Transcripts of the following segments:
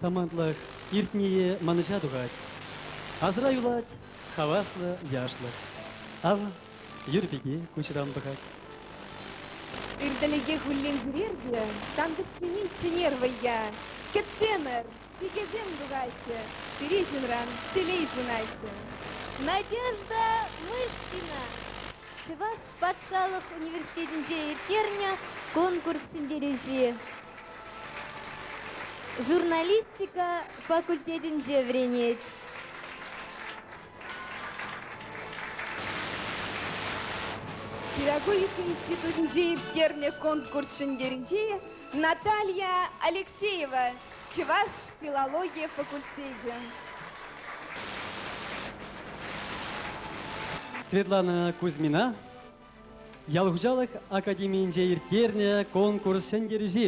Самантлӑх иртнийӗ манӑҫа тухать. Асра юлать хаваслӑ яшлӑх. Ав, юр пики куҫран пӑхать. Иртӗлӗхе хуллен кӳрертнӗ тантӑшсене чӗнер вӑййа. Кӗтсемӗр, пикесем тухаҫҫӗ, пире чунран телей сунаҫҫӗ. Надежда Мышкина Чӑваш патшалӑх университетӗнче ирттернӗ конкурс ҫӗнтерӳҫи. Журналистика факультетӗнче вӗренет. Педагогика институтӗнче ирттернӗ конкурс ҫӗнтерӳҫи Наталья Алексеева, Чӑваш филологи факультечӗ. Светлана Кузьмина, Ял хуҫалӑх академийӗнче ирттернӗ конкурс ҫӗнтерӳҫи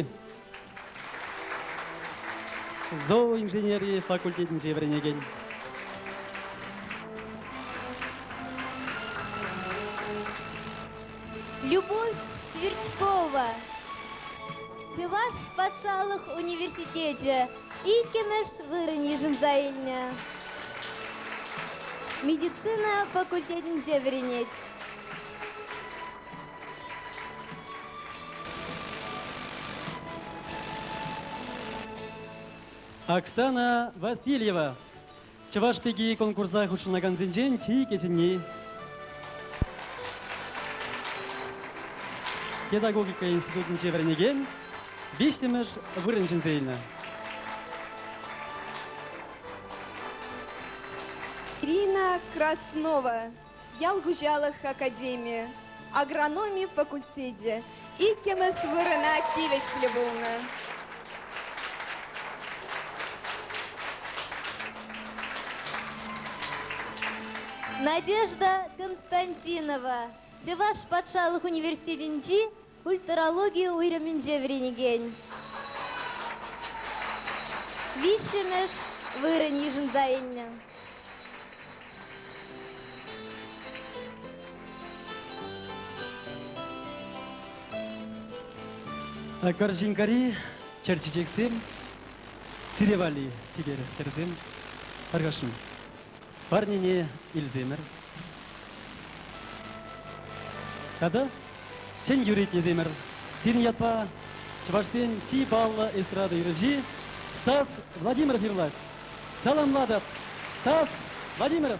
зооинженери факультетӗнче вӗренекен. Любовь Твердькова, Чӑваш патшалӑх университечӗ иккӗмӗш вырӑн йышӑнса илнӗ. Медицина факультетӗнче вӗренет. Оксана Васильева, чӑваш пики конкурса хутшӑнакансенчен чи кӗҫӗнни. Педагогика институтӗнче вӗренекен виҫҫӗмӗш вырӑн ҫӗнсе илнӗ. Ирина Краснова, Ял хуҫалӑх академийӗ агрономи факультечӗ иккӗмӗш вырӑна тивӗҫлӗ пулнӑ. Надежда Константинова Чӑваш патшалӑх университетӗнчи Культурологи уйрӑмӗнче вӗренекен виҫҫӗмӗш вырӑн йышӑнса илнӗ. Карҫинкари чӗр чечексем сире валли чипер хӗрсем аркашым. Парнене илсемӗр. Тата ҫӗн юретнисемӗр. Сирӗн ятпа чӑвашсен чи паллӑ эстрада юрӑҫи Стас Владимиров юрлать. Саламлатӑп, Стас Владимиров!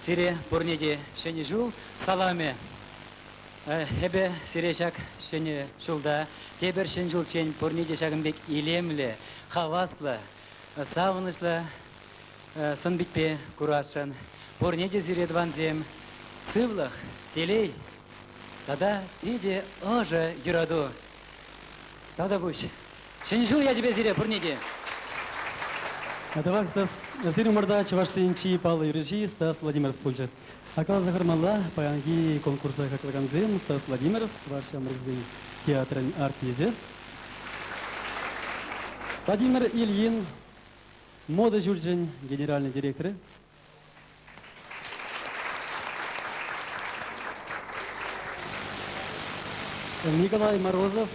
Сире пурне те Ҫӗнӗ ҫул саламӗ! Эпӗ сире ҫак Ҫӗнӗ ҫулта тепӗр ҫӗн ҫулччен пурне те ҫакӑн пек илемлӗ, хаваслӑ, савӑнӑҫлӑ сӑн-питпе курасшӑн. Пурне те сире, тӑвансем, сывлӑх, телей тата питӗ ӑшӑ юрату тата пуҫ Ҫӗнӗ ҫул ячӗпе сире пурне те! Тавах, Стас. Сирӗн умӑрта Чӑвашсен чи паллӑ юрӑҫи Стас Владимиров пулчӗ. Каласа хӑрмалла, паянхи конкурса хаклагансем Стас Владимиров, чӑваш ҫамрӑксен театрӗн артисӗ, Владимир Ильин, мода ҫурчӗн генеральнӑй директорӗ, Николай Морозов,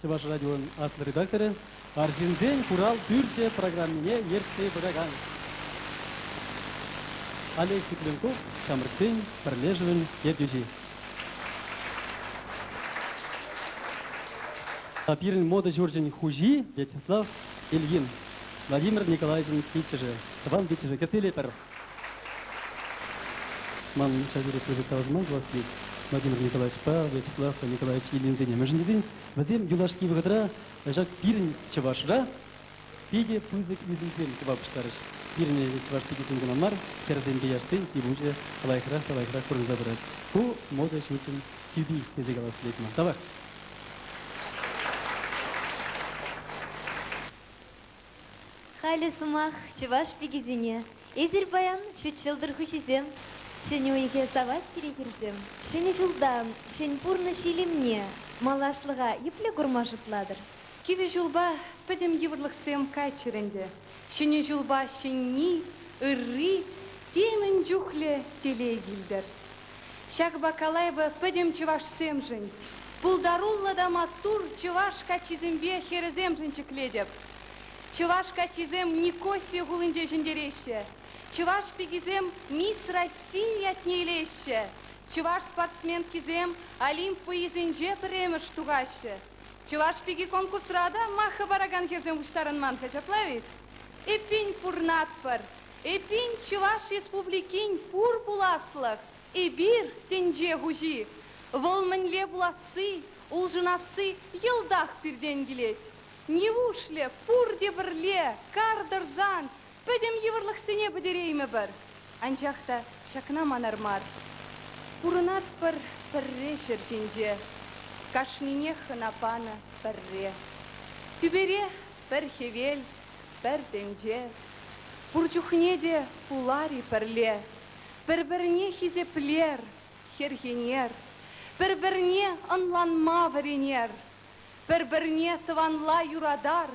Чӑваш радион аслӑ редакторӗ, Арҫынсен хурал пӳрчӗ программине ертсе пыракан Олег Тюкленков, ҫамрӑксен пӗрлешӗвӗн ертӳҫи. Пирӗн мода ҫурчӗн хуҫи Вячеслав Ильин. Владимир Николаевичӑн пиччӗшӗ, тӑван пиччӗшӗ кӗтмелӗпӗр. Ман ҫав тери пысӑк тӑвасман пулас тет Владимир Николаевичпа Вячеслав Николаевич Ильинсене. Мӗншӗн тесен вӗсем юлашки вӑхӑтра ҫак пирӗн чӑвашра питӗ пысӑк ӳсӗмсем тума пуҫларӗҫ. Пирӗн чӑваш пичӗсем кӑна мар, хӗрсемпе яшсен ҫи-пуҫӗ лайӑхрах та лайӑхрах курӑнса пырать. Ку мода ҫурчӗн тӳпи тесе калас килет ман. Тавах. Халӗ сӑмах чӑваш пикисене. Эсир паян ҫут ҫӑлтӑр хуҫисем. Ҫӗнӗ уйӑхе савать сире хӗрсем. Ҫӗнӗ ҫулта ҫӗн пурнӑҫ илемне, малашлӑха епле курма шутлатӑр? Кивӗ ҫулпа пӗтӗм йывӑрлӑхсем кайччӑр ӗнтӗ. Ҫӗнӗ ҫулпа ҫӗнни, ырри темӗн чухлӗ телей килтӗр. Ҫак Бакалаева пӗтӗм чӑвашсемшӗн, пултаруллӑ та маттур чӑваш каччисемпе хӗрӗсемшӗн ҫӗклетӗп. Чӑваш каччисем Никосия хулинче ҫӗнтереҫҫӗ, чӑваш пикисем Мисс Россия ятне илеҫҫӗ, чӑваш спортсменкисем Олимп вӑййисенче пӗрремӗш тухаҫҫӗ. Чӑваш пики конкурсра та маххӑ паракан хӗрсем пуҫтарӑнман-ха ҫапла-и? Эппин, пурӑнатпӑр, Эппин, Чӑваш Республикин пур пуласлӑх, эпир, тӗнче хуҫи. Вӑл мӗнле пуласси, улшӑнасси йӑлтах пиртен килет. Нивушлӗ пурте пӗрле кар тӑрсан пӗтӗм йывӑрлӑхсене пӗтереймӗпӗр? Анчах та ҫакна манар мар. Пурӑнатпӑр пӗрре ҫӗр ҫинче, кашнинех ӑна панӑ пӗрре. Тӳперех пӗр хӗвел пӗр тӗнче. Пур чухне те пулар-и пӗрле, пӗр-пӗрне хисеплер, хӗрхенер, пӗр-пӗрне ӑнланма вӗренер, пӗр-пӗрне тӑванла юратар,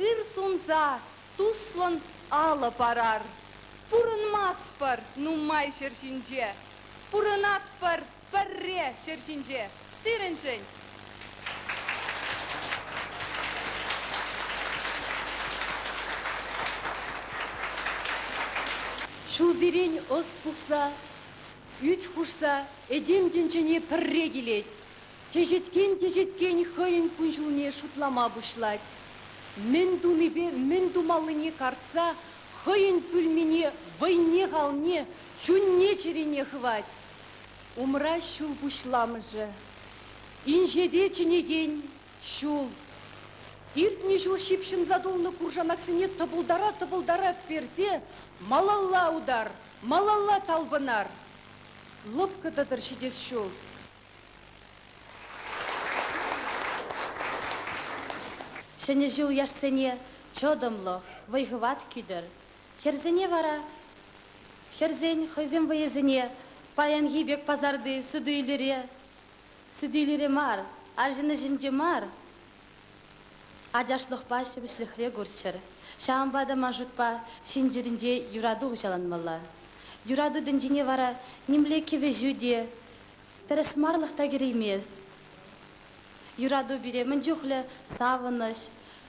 ыр сунса туслӑн алӑ парар. Пурӑнмастпӑр нумай ҫӗр ҫинче, пурӑнатпӑр пӗрре ҫӗр ҫинче сирӗншӗн. Ҫулсерен ӑс пухса, ӳт хушса этем тӗнчене пӗрре килет, теҫеткен-теҫеткен хӑйӗн кун-ҫулне шутлама пуҫлать. Мӗн тунипе мӗн тумаллине картса хӑйӗн пӳлмине вӑйне-халне, чунне-чӗрине хывать. Умра ҫул пуҫламӑшӗ, инҫете чӗнекен ҫул. Иртнӗ ҫул ҫыпҫӑнса тулнӑ куршанаксене тӑпӑлтара-тӑпӑлтара персе малалла утар, малалла талпӑнар. Лӑпкӑ-тӑтӑр ҫитес ҫул. Ҫӗнӗ ҫул яшсене чӑтӑмлӑх, вӑй-хӑват кӳтӗр. Хӗрсене вара хӗрсен хӑйсен вӑйӗсене паянхи пек пасарти суту-илӳре, суту-илӳре мар, арҫын ӗҫӗнче мар, ачашлӑхпа ҫепӗҫлӗхре курччӑр. Ҫавӑнпа та ман шутпа ҫын чӗринче юрату хуҫаланмалла. Юрату тӗнчине вара нимле кӗвӗҫӳ те, тӗрӗсмарлӑх та кӗреймест. Юрату пире мӗн чухлӗ савӑнӑҫ,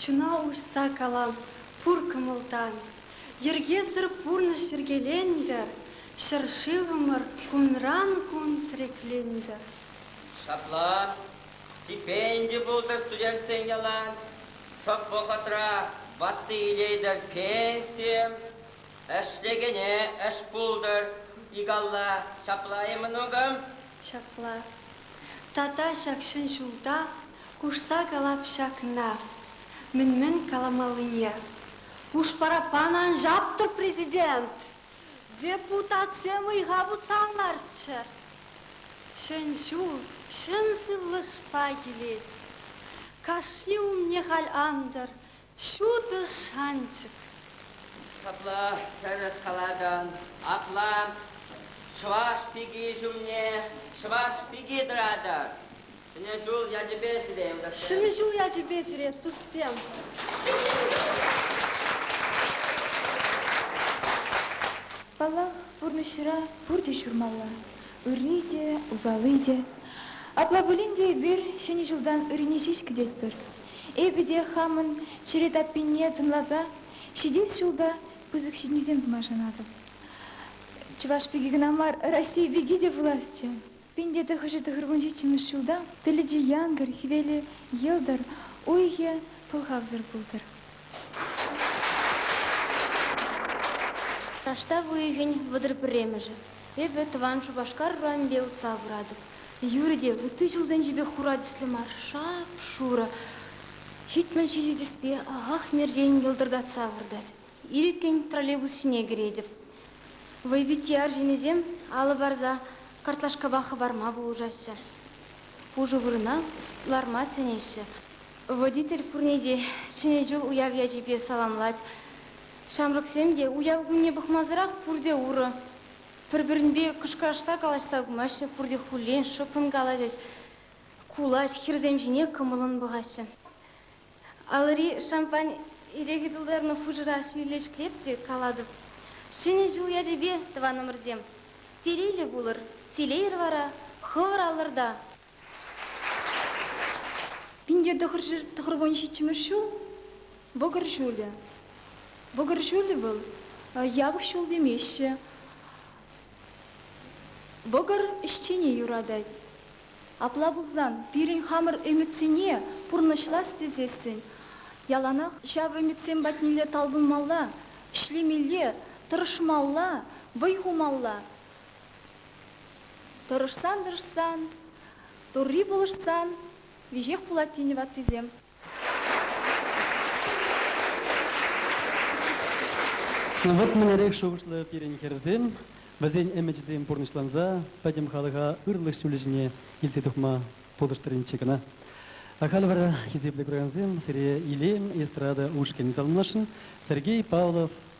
Чуна уҫса калам пур кӑмӑлтан. Йӗркесӗр пурнӑҫ йӗркелентӗр, Ҫӗршывӑмӑр кунран-кун тӗреклентӗр. Ҫапла стипенди пултӑр студентсен ялан, Шӑп вӑхӑтра ватти илетӗр пенсие. Ӗҫлекене ӗҫ пултӑр икалла ҫапла-и, мӑнукӑм? Ҫапла. Тата ҫак ҫӗн ҫулта Хушса калап ҫакна, мӗн-мӗн каламаллине. Хушпара пан ан ҫаптӑр, президент! Депутатсем ыйха путсан ларччӑр. Ҫӗн ҫул ҫӗн сывлӑшпа килет. Кашни умне халь антӑр Ҫутӑ шанчӑк. Ҫапла тӗрӗс калатӑн. Апла чӑваш пики ҫумне чӑваш пики тӑратӑр. Ҫӗнӗ ҫул ячӗпе сире, юлташсем. Ҫӗнӗ ҫул ячӗпе сире, туссем. Паллах, пурнӑҫра пурте ҫурмалла, ырри те, усалли те. Апла пулин те эпир Ҫӗнӗ ҫултан ыррине ҫеҫ кӗтетпӗр. Эпӗ те хамӑн чӗре таппине тӑнласа ҫитес ҫул та пысӑк ҫитӗнӳсем тума шанатӑп. Чӑваш пики кӑна мар, Раҫҫей пики те пуласчӗ. Пин те тӑхӑрҫӗ тӑхӑр вун ҫиччӗмӗш ҫулта пӗлӗчӗ янкӑр, хӗвелӗ йӑлтӑр, уйӑхӗ пӑлхавсӑр пултӑр. Раштав уйӑхӗн вӑтӑр пӗрремӗшӗ. Эпӗ тӑван Шупашкар урамӗпе утса пыратӑп. Юрӗ те, ытти ҫулсенчи пек хура тӗслӗ мар, шап-шурӑ. Ҫитмӗл ҫичӗ тӗспе ахах мерчен йӑлтӑртатса выртать. Ирӗккӗн троллейбус ҫине кӗретӗп. Вӑйпитти арҫынӗсем алӑ парса картлашкапа хӑпарма пулӑшаҫҫӗ. Пушӑ вырӑна ларма сӗнеҫҫӗ. Водитель пурне те Ҫӗнӗ ҫул уяв ячӗпе саламлать. Ҫамрӑксем те уяв кунне пӑхмасӑрах пурте урӑ, пӗр-пӗринпе кӑшкӑрашса калаҫса кумаҫҫӗ, пурте хуллен шӑппӑн калаҫӗҫ, кулаҫ, хӗрсем ҫине кӑмӑллӑн пӑхаҫҫӗ. Алӑри шампань ирехи тултарнӑ хушӑра ҫӳллӗшклех те калатӑп, Ҫӗнӗ ҫул ячӗпе, тӑванӑмӑрсем! Телейлӗ пулӑр, телейӗр вара хӑвӑр алӑрта! Пинте тӑхӑр вун ҫиччӗмӗш ҫул вӑкӑр ҫулӗ. Вӑкӑр ҫулӗ вӑл япӑх ҫул темеҫҫӗ. Вӑкӑр ӗҫчене юратать. Апла пулсан пирӗн хамӑр ӗмӗтсене пурнӑҫлас тесессӗн яланах ҫав ӗмӗтсем патнелле талпӑнмалла, ӗҫлемелле, тӑрӑшмалла, вӑй хумалла. Тӑрӑшсан-тӑрӑшсан, Турри пулӑшсан веҫех пулать тенӗ ваттисем. Ну вот мӗнлерех шухӑшлӑ пирӗн хӗрсем, вӗсен ӗмӗчӗсем пурнӑҫланса пӗтӗм халӑха ырлӑх ҫулӗ ҫине илсе тухма пулӑштӑринччӗ кӑна. Халь вара, хисеплӗ куракансем, сире илем эстрада ушкӑнӗ саламласшӑн. Сергей Павлов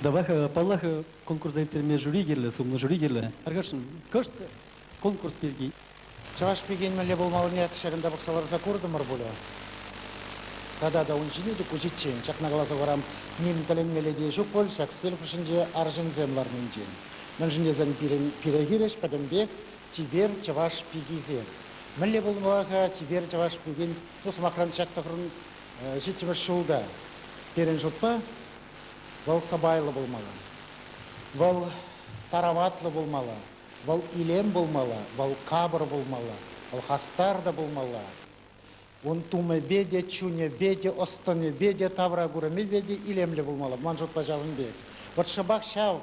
Давай, паллах, конкурса ирттерме жюри кирлӗ, сумлӑ жюри кирлӗ. Аркашӑн, кӑшт конкурс пирки. Чӑваш пикен мӗнле пулмаллине ҫакӑнта пӑхса ларса куртӑмӑр пулӗ. Тата та ун ҫине те куҫиччен ҫакна каласа хурам, ним тӗлӗнмелле те ҫук пуль ҫак стиль хушшинче арҫынсем ларнинчен. Мӗншӗн тесен пирӗн пире хирӗҫ пӗтӗмпех чипер чӑваш пикисем. Мӗнле пулмалла-ха чипер чӑваш пикин Ку сӑмахран ҫак тӑхӑрӑн ҫиччӗмӗш ҫул та пирӗн шутпа вӑл сӑпайлӑ пулмалла, вӑл тараватлӑ пулмалла, вӑл илем пулмалла, вӑл капӑр пулмалла, вӑл хастар та пулмалла. Ун тумӗпе те, чунӗпе те, ӑс-тӑнӗпе те, тавра курӑмӗпе те илемлӗ пулмалла, ман шутпа ҫавӑн пек. Вӑт шӑпах ҫав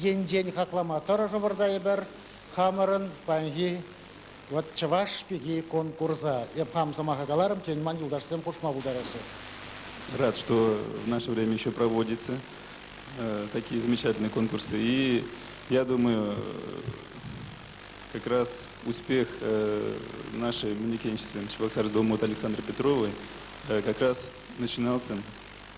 Енчен хаклама тӑрӑшӑпӑр та эпир хамӑрӑн паянхи вот чӑваш пики конкурса. Эп хам сӑмаха каларӑм, тен, ман юлташсем хушма пултараҫҫӗ. Рад, что в наше время еще проводятся такие замечательные конкурсы. И я думаю, как раз успех нашей мундикенщицы Чебоксарской Думы вот Александры Петровой как раз начинался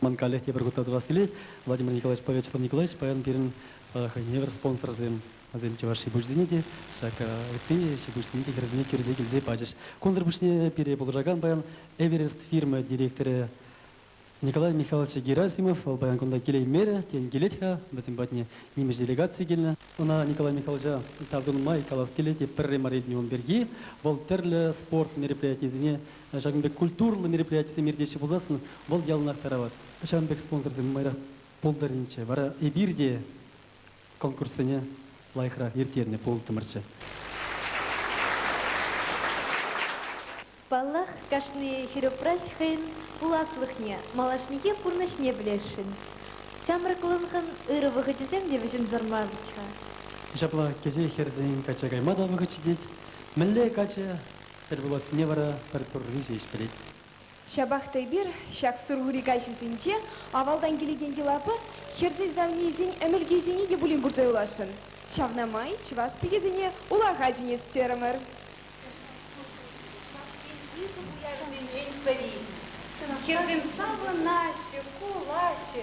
Ман каллех тепӗр хутра тӑвас килет. Владимир Николаевич Повечетов Николаевич паян пирӗн хӑйне евӗр спонсорсем. Васем Чӑваш ҫипуҫсене те, ҫак ытти ҫипуҫсене те хӗрсене кӳрсе килсе пачӗҫ. Кунсӑр пуҫне пире пулӑшакан паян Эверест фирма директорӗ Николай Михайлович Герасимов вӑл паян кунта килеймерӗ, тен килет-ха вӗсем патне нимӗҫ делегаци килнӗ. Ӑна Николай Михайловича тав тунӑ май калас килет, пӗрре мар илтнӗ ун пирки. Вӑл тӗрлӗ спорт мероприятийӗсене Ҫакӑн пек культурӑллӑ мероприятисем иртеҫҫӗ пулсассӑн вӑл яланах тарават. Ҫавӑн пек спонсорсем нумайрах пултӑрччӗ, вара эпир те конкурссене лайӑхрах ирттернӗ пултӑмӑрччӗ. Паллах, кашни хӗрупраҫ хӑйӗн пуласлӑхне, малашнехи пурнӑҫне пӗлесшӗн. Ҫамрӑклӑхӑн ырӑ вӑхӑчӗсем те вӗҫӗмсӗр мар-ҫке. Ҫапла, кӗҫех хӗрсен качча кайма та вӑхӑт ҫитет. Мӗнле каччӑ Тӗлпулассине вара пӗр пӗрре ҫеҫ пӗлет. Ҫапах та эпир ҫак сурхури каҫӗсенче авалтан килекен йӑлапа хӗрсен савнийӗсен ӗмӗлкисене те пулин курса юласшӑн. Ҫавна май чӑваш пикесене улаха чӗнес терӗмӗр. Чӑвашсен пысӑк уявӗсенчен пӗри. Хӗрсем савӑнаҫҫӗ, кулаҫҫӗ,